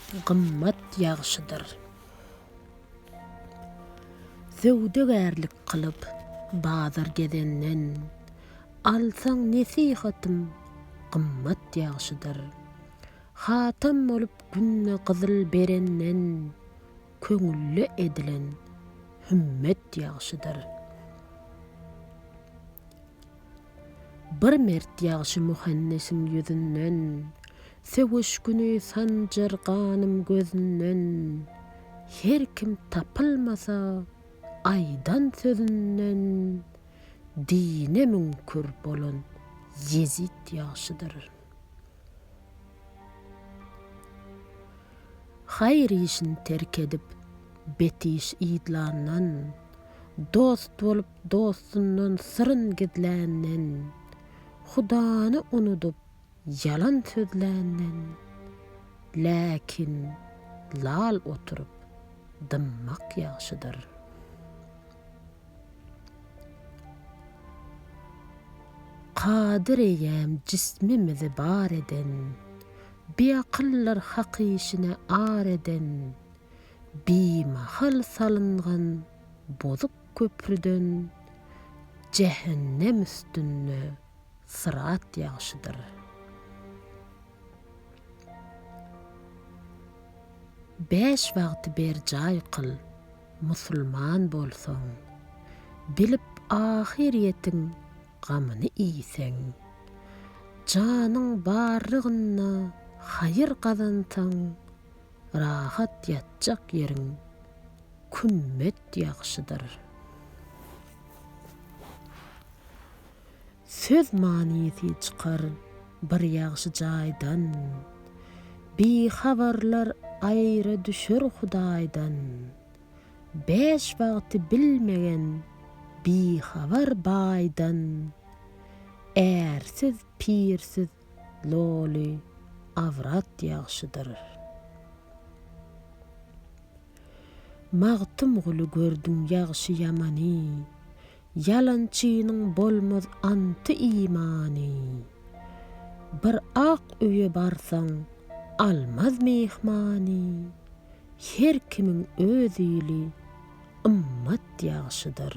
gymmat ýagşydyr. Söwdagärlik kylyp, bazar gezenden, alsaň nesihatym gymmat ýagşydyr. Hatam bolup günde gyzyl berenden, köňülle edilen hümmet ýagşydyr. Bir mert ýagşy muhannesiň ýüzünden, Söweş güni sanjar ganym gözünden. Her kim tapylmasa, aýdan sözünden, Dine müňkür bolan Ýezit ýagşydyr. Haýyr işini terk edip, bet iş yzlandan, Dost bolup, Dostundan syryn gizländen, Hudany unudyp ýalan sözländen, Läkin lal oturyp dymmak ýagşydyr. Kadyr eýýäm jismimizi bar eden, Biakyldyr hak işine ar eden, Bimahal salyngan bozuk köprüden jähennem üstünde syrat ýagşydyr. Bäş wagty berjaý kyl, musulman bolsaň, bilip ahyrýetiň gamyny iýseň, janyň barlygynda haýyr gazansaň, rahat ýatjak ýeriň Kümmet ýagşydyr. Söz manysy çykar bir ýagşy jaýdan, Bihabarlar aýra düşer Hudaýdan. Bäş wagty bilmegen bihabar baýdan, Ärsiz, pirsiz loly awrat ýagşydyr. Magtymguly gördüň ýagşy-ýamany, Ýalançynyň bolmaz anty-imany. Bir ak öýe barsaň, almaz myhmany, Her kimiň öz ili, ymmat ýagşydyr.